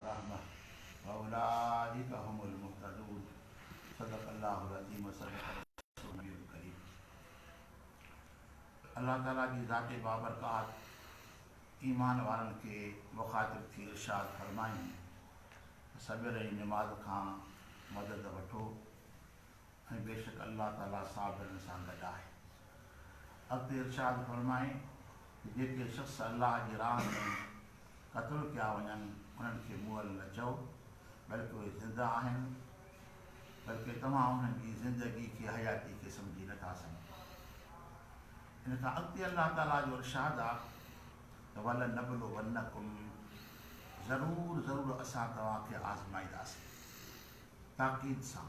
الرحمة واولئک هم المهتدون صدق الله العظيم و صدق رسوله النبي الڪريم الله تعالي جي ذات بابرڪات ايمان وارن کي مخاطب ٿي ارشاد فرمائين ته صبر ۽ نماز کان مدد وٺو ۽ بيشڪ الله تعالي صابرن سان گڏ آهي. اڳتي ارشاد فرمائي ته جيڪي شخص الله جي راهه ۾ قتل ڪيا وڃن انهن کي مئل نه چئو بلڪ اهي زنده آهن بلڪ توهان انهن جي زندگي کي حياتي کي سمجهي نه ٿا سگهو ان کان اڳتي الله تعالي جو ارشاد آ ته ول نبلو ونڪم ضرور ضرور اسان توهان کي آزمائيداسين تاڪيد سان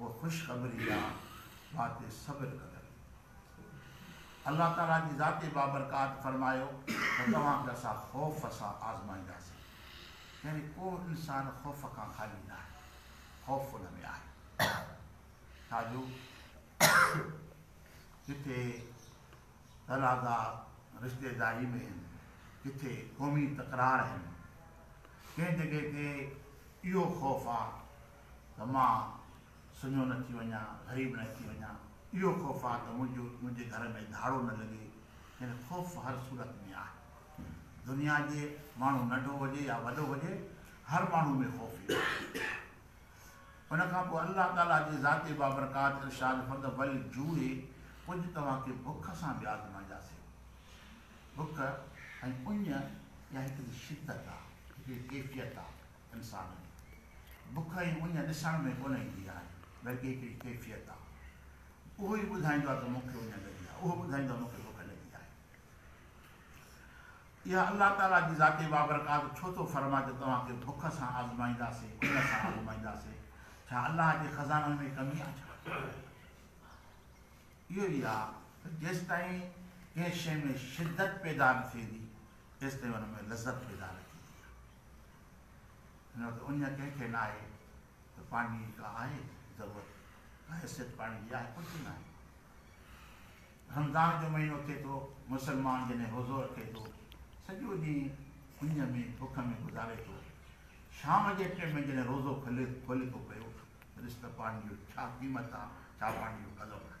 اها خوشخبري آ وات صبر ڪندڙ جي. الله تعالي جي ذات بابرڪات فرمايو ته توهان کي اسان خوف سان آزمائينداسين. يعني ڪو انسان خوف کان خالي ناهي. خوف ان ۾ آهي. ڇاجو ڪٿي تنازعا رشتيداري ۾ آهن، ڪٿي قومي تڪرار آهن. ڪنهن جڳهه تي اهو خوف آ ته مان سڃو نه ٿي وڃان، غريب نه ٿي وڃان. اهو خوف آ ته منهنجو منهنجي گهر ۾ ڌاڙو نه لڳي. يعني خوف هر صورت ۾ آهي. دنيا جي ماڻهو ننڍو هجي يا وڏو هجي هر ماڻهو ۾ خوف ايندو آهي. ان کان پوء الله تعاليٰ جي ذاتي بابرڪات ارشاد فرد والجوع ڪجهه توهان کي بک سان به آزمائياسين. بک ۽ اڃ اها هڪڙي شدت آ، هڪڙي ڪيفيت آ. انسان ۾ بک ۽ اڃ ڏسڻ ۾ ڪونه ايندي آهي، بلڪه هڪڙي ڪيفيت آهي. اهو ئي ٻڌائيندو آهي ته مون کي اڃ لڳي آهي، اهو ٻڌائيندو آهي مون کي بک لڳي آهي. اها الله تعاليٰ جي ذات بابرڪات ڇو ٿو فرمائي ته توهان کي بک سان آزمائينداسين، اڃ سان آزمائينداسين؟ ڇا الله جي خزانن ۾ ڪمي آهي ڇا؟ اهو ئي آهي ته جيستائين ڪنهن شيء ۾ شدت پيدا نه ٿيندي، تيستائين ان ۾ لذت پيدا نه ٿيندي. نه ته اڃا ڪنهن کي ناهي ته پاڻي جي ڪا آهي ضرورت، ڪا حيثيت پاڻي جي آهي، ڪجهه به ناهي. رمضان جو مهينو ٿئي ٿو، مسلمان جڏهن روزو رکي ٿو، سڄو ڏينهن اڃ ۾ بک ۾ گذاري ٿو، شام جي ٽئين ۾ جڏهن روزو کولي ٿو پيو ته ڏس ته پاڻي جو ڇا قيمت آ، ڇا پاڻي جو قدر آهي.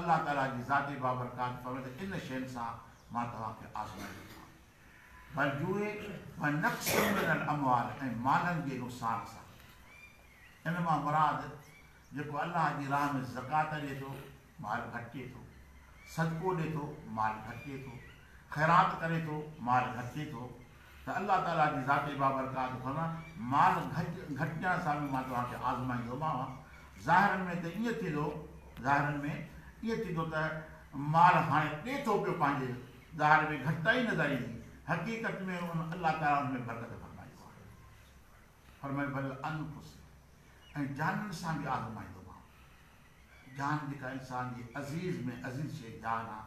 الله تعاليٰ جي ذاتي بابرڪات فضل ان شين سان مان توهان کي آزمايو ٿا بالجوء و نقص من الاموال ۽ مالن جي نقصان سان ان مان مراد جيڪو الله جي راهه ۾ زڪوات ڏي ٿو مال گهٽجي ٿو صدقو ڏي ٿو مال گهٽجي ٿو خيرات ڪري ٿو، مال گهٽجي ٿو، ته الله تعاليٰ جي ذاتي بابرڪات فرمان، مال گهٽجڻ سان به مان توهان کي آزمائيندومانء، ظاهر ۾ ته ائين ٿيندو، ظاهر ۾ ائين ٿيندو ته مال هاڻي ڏي ٿو پيو پنهنجي، ظاهر ۾ گهٽتائي نظر ايندي، حقيقت ۾ ان الله تعاليٰ ان ۾ برڪت فرمائي هو آهي. فرمايو ولانفس ۽ جانن سان به آزمائيندومانء. جان جيڪا انسان جي عزيز ۾ عزيز شيء جان آ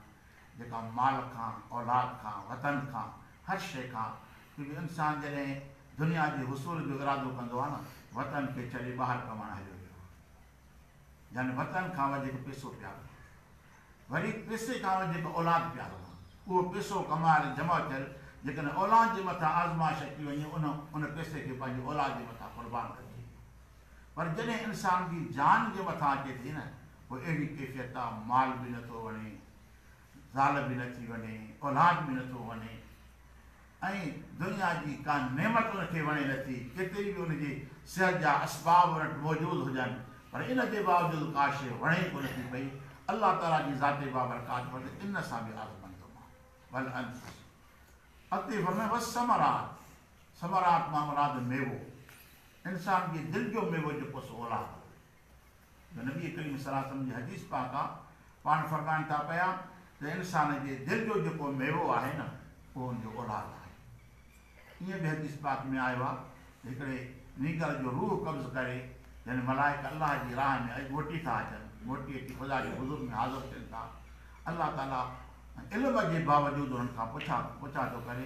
جيڪا مال کان اولاد کان وطن کان هر شيء کان ڪيونڪه انسان جڏهن دنيا جي حصول جو ارادو ڪندو آ نه وطن کي ڇڏي ٻاهر ڪمائڻ هليو ويو آ يعني وطن کان وڌيڪ پيسو پيارو آ وري پيسي کان وڌيڪ اولاد پيارو آ اهو پيسو ڪمايل جمع ٿيل جيڪڏهن اولاد جي مٿان آزمائش اچي وڃي ان ان پيسي کي پنهنجي اولاد جي مٿان قربان ڪجي پر جڏهن انسان جي جان جي مٿان اچي ٿي نه پوء اهڙي ڪيفيت آ مال به نه ٿو وڻي زال به نه ٿي وڻي اولاد به نه ٿو وڻي ۽ دنيا جي ڪا نعمت ان کي وڻي نه ٿي ڪيتري به ان جي صحت جا اسباب ان وٽ موجود هجن پر ان جي باوجود ڪا شيء وڻي ڪو نه ٿي پئي الله تعالي جي ذات بابرڪات فرمائي ٿو ان سان به آزمائيندومان بل انت اڳتي فرمائي والثمرات ثمرات مان مراد ميوو، انسان جي دل جو ميوو جيڪو سو اولاد آهي. جو نبي ڪريم صلي الله عليه وسلم جي حديث پاڪ آ، پاڻ فرمائن ٿا پيا ته انسان جي دل جو جيڪو ميوو آهي نه اهو ان جو اولاد آهي. ائين به حديث پاڪ ۾ آيو آ ته هڪڙي نينگر جو روح قبض ڪري يعني ملائڪ الله جي راهه ۾ موٽي ٿا اچن، موٽي اچي خدا جي حضور ۾ حاضر ٿين ٿا، الله تعالي علم جي باوجود انهن کان پڇا پڇا ٿو ڪري،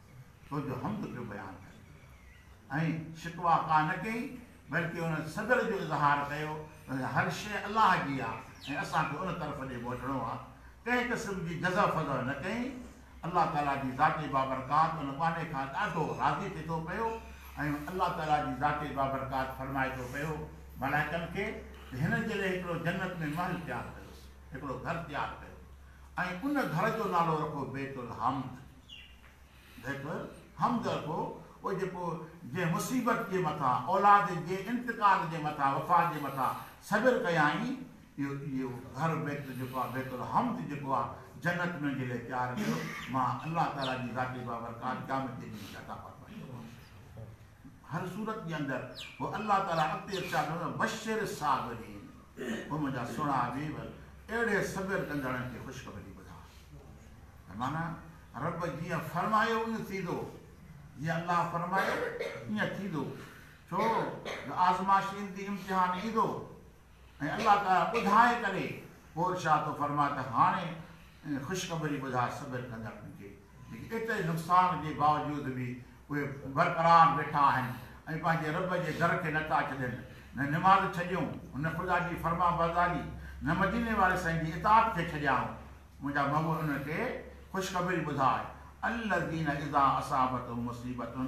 تو جو حمد پيو بيان ڪري ۽ شڪوه ڪا نه ڪئي بلڪه ان صدر جو اظهار ڪيو ته هر شيء الله جي آهي ۽ اسان کي ان طرف ڏي موٽڻو آهي ڪنهن قسم جي جزع فزع نه ڪئي الله تعاليٰ جي ذات بابرڪات ان ٻانهي کان ڏاڍو راضي ٿئي ٿو پيو ۽ الله تعاليٰ جي ذات بابرڪات فرمائي ٿو پيو ملائڪن کي ته هن جي لئه هڪڙو جنت ۾ محل تيار ڪيوس هڪڙو گهر تيار ڪيو ۽ ان گهر جو نالو رکو بيت الحمد بيٺو همدرد هو، او جيڪو جنهن مصيبت جي مٿان، اولاد جي انتقال جي مٿان، وفات جي مٿان صبر ڪيائين، اهو اهو گهر بيت جيڪو آهي بيت الحمد جيڪو آهي جنت ۾ منهنجي لاء تيار ڪيو، مان الله تعاليٰ جي ذاتي بابرڪات قيامت جي ڏينهن کي عطا فرمائيندومانس. هر صورت جي اندر هو الله تعاليٰ اڳتي ارشاد فرمائي بشر الصابرين هو منهنجا سهڻا حبيب اهڙي صبر ڪندڙن کي خوشخبري ٻڌاء ته معنيٰ رب جيئن فرمايو ايئن ٿيندو جيئن الله فرمايو ايئن ٿيندو ڇو جو آزمائش ايندي امتحان ايندو ۽ الله تعالي ٻڌائي ڪري پوء ارشاد ٿو فرمائي ته هاڻي خوشخبري ٻڌاء صبر ڪندڙن کي جيڪي ايتري نقصان جي باوجود به اهي برقرار ويٺا آهن ۽ پنهنجي رب جي در کي نه ٿا ڇڏين، نه نماز ڇڏيون، نه خدا جي فرمانبرداري، نه مديني واري سائين جي اطاعت کي ڇڏيائون، منهنجا محبوب انهن کي خوشخبري ٻڌاء، الذين اذا اصابتهم مصيبة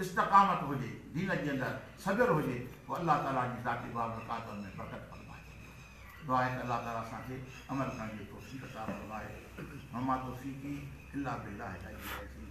استقامت هجي، دين جي اندر صبر هجي پوء الله تعالي جي ذاتي بابرڪاتن ۾ برڪت فرمائي ڇڏيو. دعا آهي ته الله تعالي اسان کي عمل ڪرڻ جي توفيق عطا فرمائي. وما توفيقي الا بالله العلي العظيم.